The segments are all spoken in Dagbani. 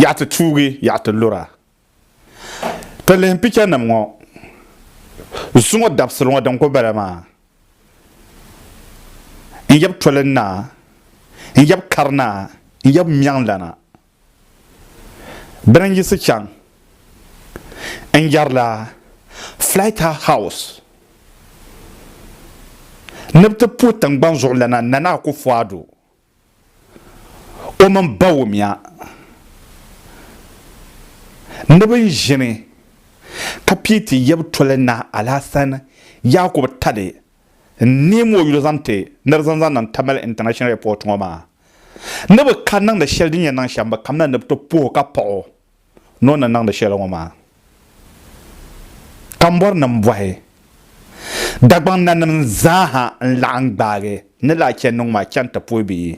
Yaɣi ti tuugi, yaɣi ti lura. Ti lihim picha nim ŋɔ zuŋɔ dabisili ŋɔ din kuli bala maa n yab toli naa, n yab kari naa, n yab mɛŋ lana. Bini n yiɣisi chaŋ n yarila Flight House ni bi ti puhi tingbani zuɣu lana Nana Akufo-Addo. o mini Bawumia ni bɛ ni ʒini ka pii ti yab toli Naa Alasan Yaakubu Tali n-neem o yuli zaŋ ti ni di zaŋ zaŋ niŋ Tamale International Airport ŋɔ maa ni bɛ ka niŋdi shɛli din yɛn niŋ shɛm bɛ kamina ni bɛ ti puhi o ka paɣ o. ni o ni niŋdi shɛli ŋɔ maa. Kambɔrinim bɔhi Dagbaŋ nanim zaa ha n-laɣim gbaagi ni laa chɛ niŋ ma chaŋ ti puhi bɛ yi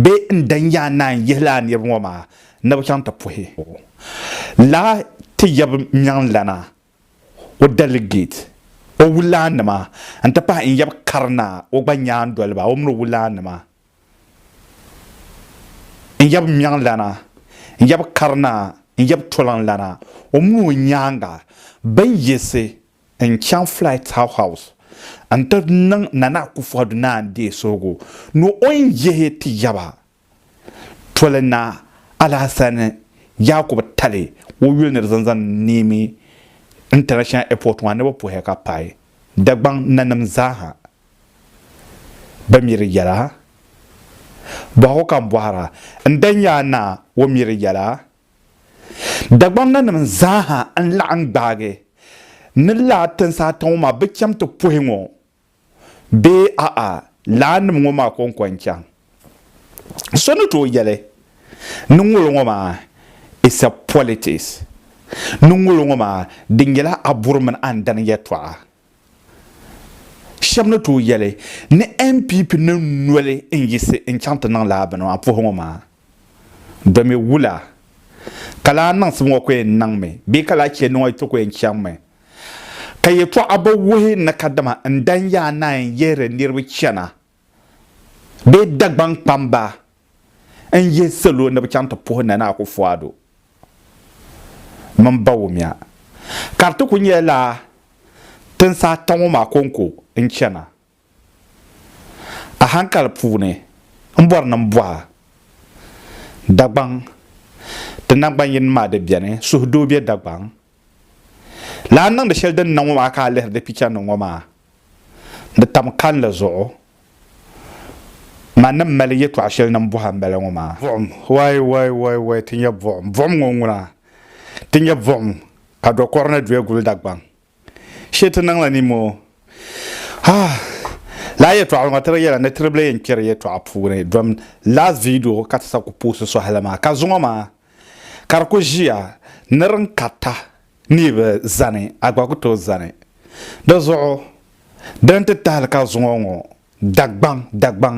bee n-dan yaa naan yihi laa niriba ŋɔ maa ni bɛ chaŋ ti puhi laa ti yab Miɛŋlana o dɛligeeti o wulaannima n-ti pahi n-yab Karinaa o gba nyaandoliba o min o wulaannima. n yab ŋmɛŋlana, n yab karina, n yab toliŋlana, o mini o nyaaŋa bɛn yiɣisi n-chaŋ Flight House n-ti niŋ Nana Akufo Addo Naa Ndeesogo ni o ni yihi ti yaba toli na Alahassani Yakubu Tali o yuli ni di zaŋ zaŋ Niamey International Airport maa ni bɛ puhi ya ka paai Dagbaŋ nanim zaa ha. Bɛ mi di yɛla? Bɔhigu ka n bɔhir a, n dahi nya a naa o mi di yɛla? Dagbamnanim zaa ha n-laɣim gbaagi ni laa tinsaata ŋɔ maa bi cham ti puhi ŋɔ bee a'a laannim ŋɔ maa kɔŋko n-chaŋ? So ni tooi yɛli ni ŋolo ŋɔ maa is a politics, ni ŋolo ŋɔ maa di nyɛla a buri mini a ndani yɛtɔɣa. Shɛba ni tooi yɛli ni NPP ni noli n-yiɣisi n-chaŋ ti niŋ lala bini maa puhigu ŋɔ maa domi wula ka lala niŋsim ŋɔ ku yɛn niŋmi bee ka lala chɛndi ŋɔ ti ku yɛn chaŋmi ka yɛltɔɣa bi wuhi ni kadama n-dan yaa naai n-yihiri niriba chana. bee Dagbaŋ kpamba n yihi salo ni bɛ chaŋ ti puhi Nana Akufo-Addo mini Bawumia ka di ti kuli nyɛla lala tinsi ata ŋɔ maa kɔŋko n chana. A hankali puuni m bɔri ni m bɔha Dagbaŋ ti nangbanyini maa di beni, suhudoo be Dagbaŋ Lana niŋdi shɛli din na ŋɔ maa ka a lihiri di picha ni ŋɔ maa, di tam kanli zuɣu. Ma ni mali yɛtɔɣ shɛli ni m-bɔhi a m-bala ŋɔ maa. Buɣim, Way, way, way, way, ti nya buɣim. Buɣim ŋɔ ŋuna. Ti nya buɣim ka do kɔri ni duya guli Dagbaŋ. Shee ti niŋla ni moo. Ah! Lala yɛtɔɣ ŋɔ ti di yɛla ni tiribila yɛn kpɛri yɛtɔɣ puuni. Dom last video ka ti sa ku puhisi sɔhili maa. Ka zuŋɔ maa. Ka di ku ʒiya ni din karita ni yi bi zani, a gba ku tooi zani. Di zuɣu di ni ti tahili ka zuŋɔ ŋɔ Dagbaŋ Dagbaŋ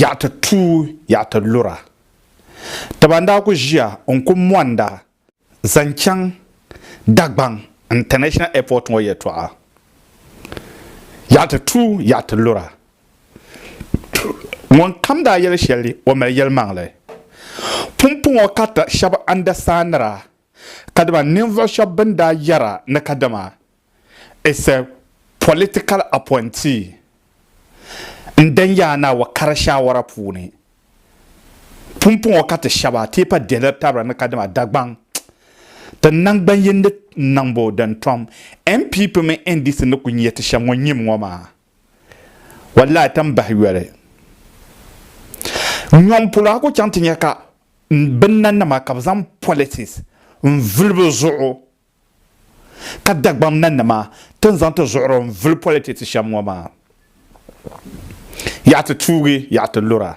yaɣa ti tuui yaɣa ti lura. Ti ban daa ku ʒiya n-ku mɔnda Zaŋ chaŋ Dagbaŋ International Airport ŋɔ yɛltɔɣa yaɣiti tuui yaɣiti lura ŋunkam daa yɛli shɛli o mali yɛlimaŋli pumpɔŋɔ ka ti shɛba andasaanira kadama ninvuɣu shɛba bɛn daa yɛra ni kadama is a political appointee n dan yaa ni a wa kari shaawara puuni pumpɔŋɔ ka ti shɛba teepa dihili tabira ni kadama Dagbaŋ ti naŋgbanyindi niŋbu din tom NPP mini NDC ni kuli nyɛ ti shɛm ŋɔ nyim ŋɔ maa wallahi ti ni bahi yoli nyom polo a ku chaŋ ti nya ka binnanima ka bi zaŋ politics n vuli bi zuɣu ka Dagbaŋ nanima ti ni zaŋ ti zuɣuri n vuli politics shɛm ŋɔ maa. Yaɣi ti tuugi yaɣi ti lura.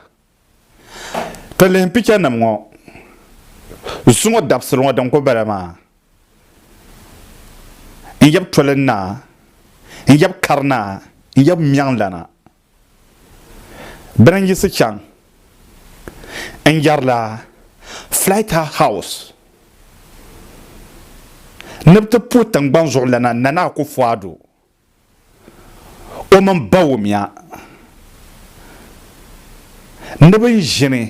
Ti lihi picture nim ŋɔ zuŋɔ dabisili ŋɔ din kuli bala maa n yab toli n naa n yab kari naa n yab mɛŋ lana. Bɛ ni yiɣisi chaŋ n-yɛrila Flight House ni bɛ ti puhi tiŋgbani zuɣulana Nana Akufo-Addo, o mini Bawumia ni bɛn ʒini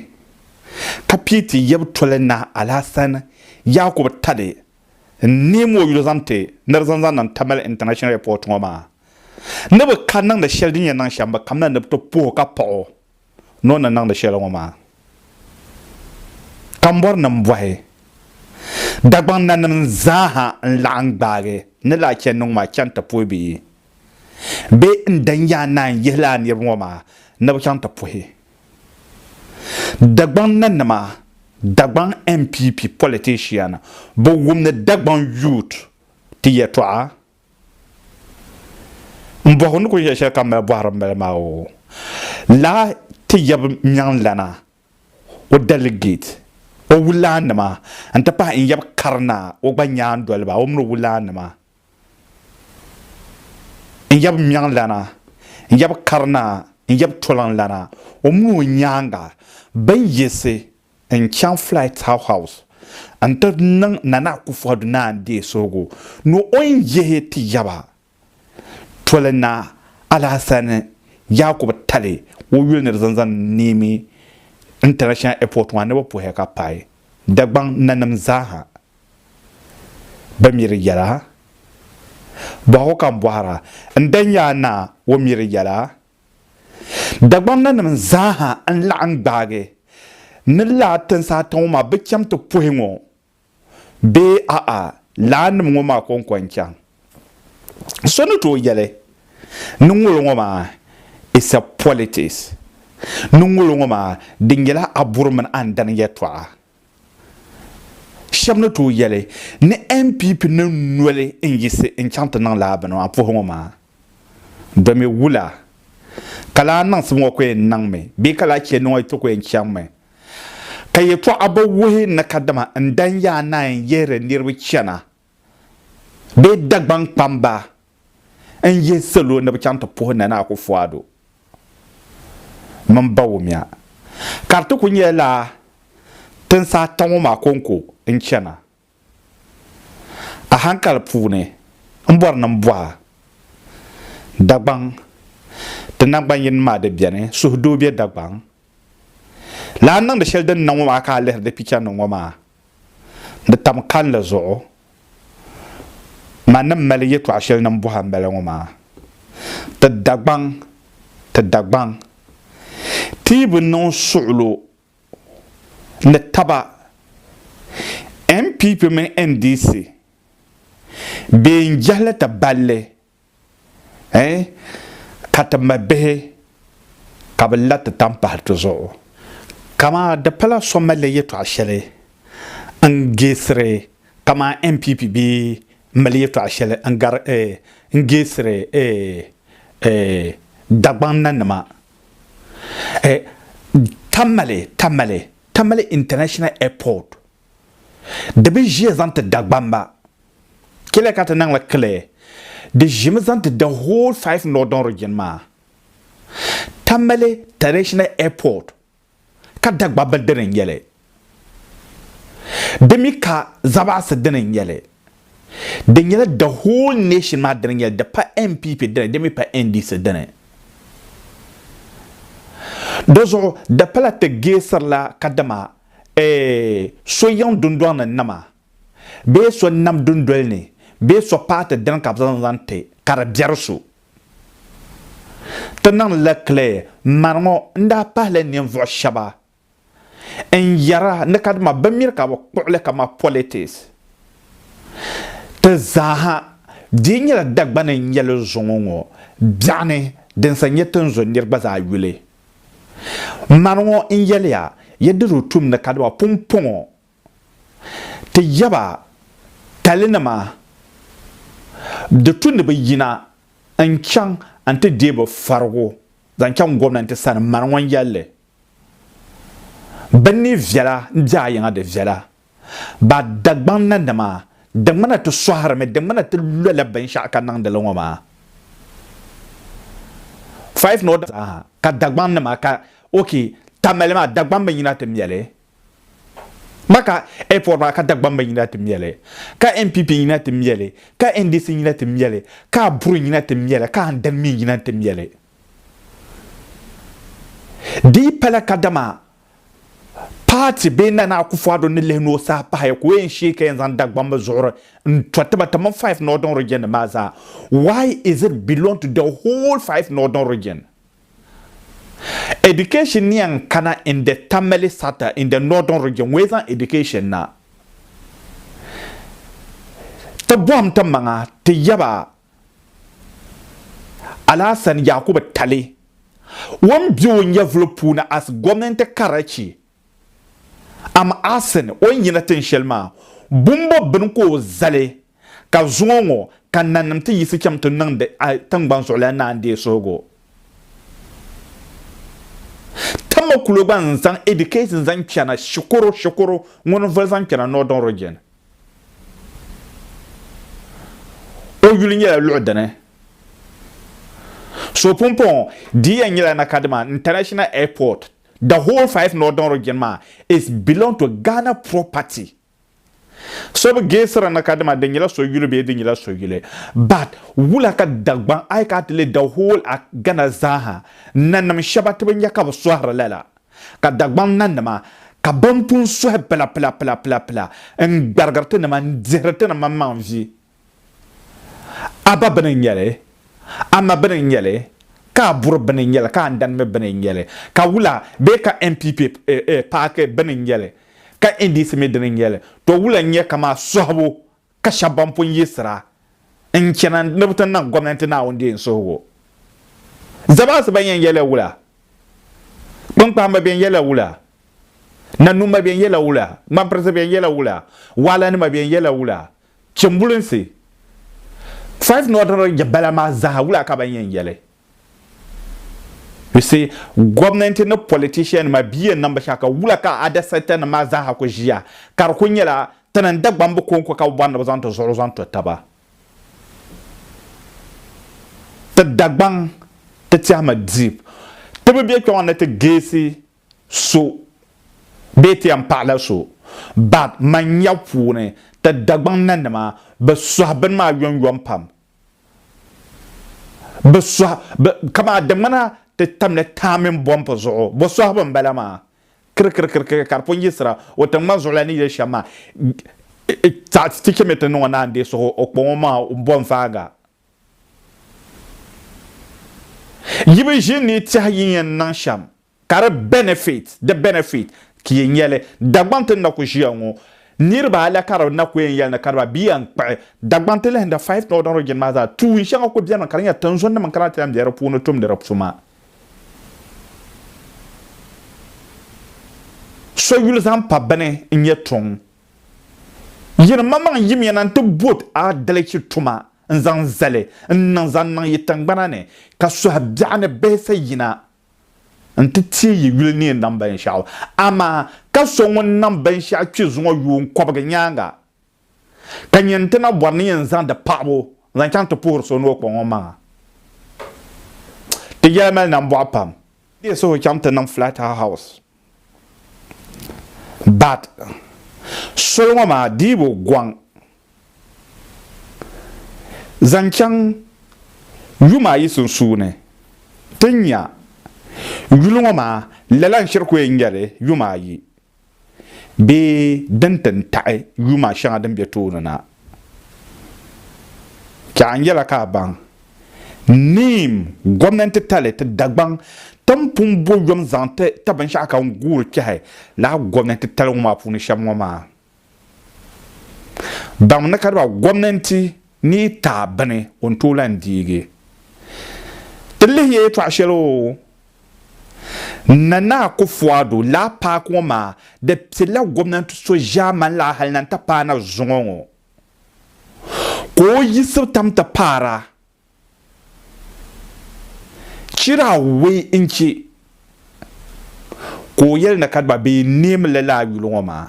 ka pii ti yab toli Naa Alasan Yakubu Tade n-neem o yuli zaŋ ti ni di zaŋ zaŋ niŋ Tamale International Airport ŋɔ maa. Ni bi ka niŋdi shɛli din yɛn niŋ shɛm, bɛ kamina ni bɛ ti puh o ka paɣ o ni o ni niŋdi shɛli ŋɔ maa. Kambɔrinim bɔhi Dagbaŋ nanim zaaha n-laɣim gbaagi ni lala chani ni ŋɔ maa chaŋ ti puhi bɛ yi bee n-dan yaa naan yihi lala niriba ŋɔ maa ni bɛ chaŋ ti puhi Dagbaŋ nanima Dagbaŋ NPP politician bi wumdi Dagbaŋ youth ti yɛtɔɣa N bɔhu ni ku yɛli shɛli ka mali bɔhiri m-bala maa o lahi ti yab nyaŋlana, o dɛligeet, o wulaannima nti pahi n yab karinaa, o gba nyaandoliba, o min o wulaannima, n yab nyaŋlana, n yab karinaa, n yab toliŋlana, o min o nyaaŋa bɛn yiɣisi N chaŋ Flight House n-ti niŋ Nana Akufo Addo Naa Adee suhigu ni o ni yihi ti yaba toli Naa Alahassani Yakubu Tali o yuli ni di zaŋ zaŋ Niamey International Airport maa ni bɛ puhi ka paai Dagbaŋ nanim zaaha. Bɛ mi di yɛla? Bɔhigu ka m bɔhira, n danyaaNaa, o mi di yɛla? Dagbamnanim zaaha n-laɣim gbaagi ni laa tinsi ata ŋɔ maa bi cham ti puhi ŋɔ bee a'a laannim ŋɔ maa kɔŋko n-chaŋ. So ni tooi yɛli ni ŋolo ŋɔ maa is a politics ni ŋolo ŋɔ maa di nyɛla aburi mini andani yɛltɔɣa. Shɛba ni tooi yɛli ni NPP ni noli n-yiɣisi n-chaŋ ti niŋ lala bini maa puhiŋɔ maa di mi wula? Ka lala niŋsim ŋɔ ku yɛn niŋmi bee ka lala chɛndi ŋɔ yi ti ku yɛn chaŋmi? Ka yɛtɔɣa bi wuhi ni kadama n-dan yaa naai n-yihiri niriba chana. bee Dagbaŋ kpamba n yihi salo ni bɛ chaŋ ti puhi Nana Akuffo Addo mini Bawumia ka di ti kuli nyɛla tinsi ata ŋɔ maa konko n chana. Ahankali puuni m bɔri ni m bɔha Dagbaŋ ti nangban yini maa di beni suhudoo be Dagbaŋ lana niŋdi sheli din na ŋɔ maa ka a lihiri di pichanima ŋɔ maa Di tam kalinli zuɣu, ma ni m mali yɛtɔɣ shɛli ni m bɔhi a m-bala ŋɔ maa, Ti Dagbaŋ, ti Dagbaŋ, ti yi bi niŋ suɣulo ni taba, NPP mini NDC, bee n-jɛhi li ti balli Eh, ka ti mali bihi ka bɛ la ti tampahi ti zuɣu. Kama di pala so malila yɛtɔɣ shɛli n-geesiri kamani NPP bee m-mali yɛtɔɣ shɛli n-gari eh, n-geesiri eh, eh, Dagbaŋ nanima. Eh, Tamale, Tamale, Tamale International Airport Di bi ʒiya zaŋ ti Dagbamba. Kile ka ti niŋ li Kile. Di ʒimi zaŋ ti the whole five northern region maa. Tamale traditional airport ka Dagbamba dini n-nyɛ li. Di mi ka Zabaɣisi dini n-nyɛ li. Di nyɛla the whole nation maa dini n-nyɛ li, di pa NPP dini, di mi pa NDC dini. Di zuɣu di pala ti geesirila kadama Ee, so yiŋ dundɔŋ ni nam a, bee so nam dundoli ni, bee so paati dini ka bɛ zaŋ zaŋ ti ka di biɛri so. Ti niŋdi la clear, mani ŋɔ n daa pahila ninvuɣu shɛba n yɛra ni kadama bɛ miri ka bɛ kpuɣi li kaman politics. Ti zaaha dii nyɛla Dagbani n-nyɛ li zuŋɔ ŋɔ biɛɣuni din sa nyɛ tinzuniri gba zaa yuli. Mani ŋɔ n-yɛliya, ya di o tum ni kadiba pumpɔŋɔ ti ya ba talinima di tu ni bɛ yina n-chaŋ n-ti deei bɛ farigu zaŋ chaŋ gomnanti sani. Mani ŋɔ n-yɛli li, bɛ ni viɛla n-di a yiŋa di viɛla. Ba Dagbaŋ nanima, di ŋmana ti sɔhirimi, di ŋmana ti lola binshɛɣu ka niŋdi li ŋɔ maa. Five ni o daa zaaha ka Dagbaŋ nima ka ok Tamale maa Dagbaŋ bi yina ti mɛli, Maka Airport maa ka Dagbaŋ bi yina ti mɛli, ka NPP yina ti mɛli, ka NDC yina ti mɛli, ka Aburi yina ti mɛli, ka Andani mi yina ti mɛli. Di yi pala kadama paati bee Nana Akufo-Addo ni lihi ni o saha pahaya ka o yɛn shee ka yɛn zaŋ Dagbamb bi zuɣuri n to ti ba tiŋ five northern region nim maa zaa why is it belong to the whole five northern region education ni yɛn kana in the Tamale Sata in the northern region ŋɔ yi zaŋ education na ti bɔhim ti maŋa ti yaba Alasan Yakubu Tali wan be o nyɛvuli puuni as gomnanti Karachi am asin o ni yina tin shɛli maa bumbo bini ka o zali ka zuŋɔ ŋɔ ka nanim ti yiɣisi cham ti niŋdi tingbani zuɣulan naan deei suhigu ti mi kulo gba n zaŋ education zaŋ kpɛna shikuru shikuru ŋuni voli zaŋ kpɛna northern region. O yuli nyɛla luɣu dini so pumpɔŋɔ di yɛn nyɛla na Kadima International Airport. The whole five northern region maa is belong to Ghana property. So bi geesiri na Kadima di nyɛla so yuli bee di nyɛla so yuli. But wula ka Dagbaŋ ayi ka a ti lɛ the whole a Ghana zaa ha nanim shɛba ti bi nya ka bi sɔhiri lala. Ka Dagbaŋ nanima, ka bɛn pun suhi pila pila pila pila pila n-gbarigiri ti nima n-dihiri ti ni maŋmaŋ vi. A ba bini n-nyɛ li, a ma bini n-nyɛ li, ka a buri bini n-nyɛ li, ka a ndani mi bini n-nyɛ li, ka wula bee ka NPP paaki bini n-nyɛ li, ka NDC mi dini n-nyɛ li, to wula n-nyɛ kamaa suhibu ka shɛba ban pun yiɣisira n-chana ni bɛ ti niŋ gomnanti Naawuni deem suhigu. Zamaasi ban yɛn yɛla wula? Kpiŋkpahimba bɛn yɛla wula? Nanumba bɛn yɛla wula? Ŋmampirinsi bɛn yɛla wula? Waalanima bɛn yɛla wula? Chimbulinsi, five nɔdiri jɛbala maa zaa wula ka ban yɛn yɛli? You see, gomnanti ni politician nima bi yɛn niŋbu shɛli ka wula ka other sector nima maa zaaha ku ʒiya ka di ku nyɛla ti ni Dagbaŋ bi konko ka bi bɔri ni bi zaŋ ti zuɣuri zaŋ to taba. Ti Dagbaŋ ti tɛhimi deep. Ti bi bɛ kpɛŋɔ ni ti geesi so bee ti yɛn paɣila so but man nya puuni ti Dagbaŋ nanima bi suhi bini maa yomyom pam. Bɛ sɔhi, bɛ, kamaa di ŋmana ti tamla taa mini bɔmpu zuɣu. Bɔ sɔhibu m-bala maa. Kirikirikirikiri ka di pun yiɣisira o tiŋgbani zuɣu la ni yili shɛm maa. Taɣi ti chɛmi ti niŋ o naan deei suhu o kpaŋɔ maa bɔnfaaŋa. Yi bi ʒini ni yi tɛhi yi ni yɛn niŋ shɛm Ka di benefit, di benefit, ti yi nya li, Dagbaŋ ti ni na ku ʒiya ŋɔ, niriba ala ka di na ku yɛn yɛli ni ka di ba bia yɛn kpuɣi Dagbaŋ ti lahinda five Northern Region maa zaa, tuun shɛŋa ku benimi ka di nyɛ tinzunnim n-kana ti lahi be di puuni tumdi di tuma. So yuli zaŋ pa bini n-nyɛ tuŋ. Yin maŋmaŋ yimiya na nti bot aadalichi tuma n-zaŋ zali n-niŋ zaŋ niŋ yi tiŋgbana ni, ka suhi biɛɣu ni bihi sa yina nti teei yi yuli ni yi niŋ binshɛɣu, amaa ka so ŋun niŋ binshɛɣu kpi zuŋɔ yuun kɔbigi nyaaŋa, ka nya nti na bɔri ni yɛn zaŋdi paɣibu n-zaŋ chaŋ ti puhiri so ni o kpuɣ o maŋa, ti yɛli mali nambɔɣu pam. Di yihi suhu chaŋ ti niŋ flat house. Bat soli ŋɔ maa diibu gɔŋ zaŋ chaŋ yuma ayi sunsuuni ti nya yuli ŋɔ maa lala n shiri ku yɛn nyɛli yuma ayi bee din ti n taɣi yuma shɛŋa din be tooni na. Chɛ a ni yɛla ka a baŋ neem gomnanti tali ti Dagbaŋ tim pun bo yom zaŋ ti ta binshɛɣu ka n guuri kpɛhi lala gomnanti tali ŋɔ maa puuni shɛm ŋɔ maa. Baŋmi ni kadiba gomnanti ni yi taai bini o ni tooi lan deegi ti lihi ya yɛtɔɣ shɛli oo. Nana Akufo-Addo laa paaki ŋɔ maa di pilila gomnanti so ʒiɛmani laa hali na n-ti paai na zuŋɔ ŋɔ ka o yiɣisibu tam ti paara Chirawɛ n-che ka o yɛli ni ka gba bee neemi li laa yuli ŋɔ maa.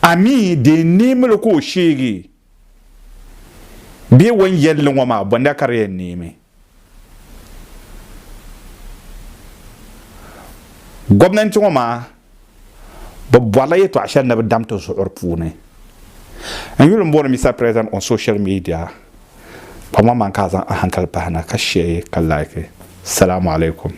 A mi di neemili ka o sheegi bee wan yɛli li ŋɔ maa bɔnda ka di yɛn neemi. Gomnanti ŋɔ maa bɛ bɔrila yɛtɔɣ shɛli ni bɛ dam ti zuɣuri puuni. N yuli m-booni Mister President on social media ka ŋɔ maa ka a zaŋ a hankali pahi na ka share ka like. Salamu alaikum.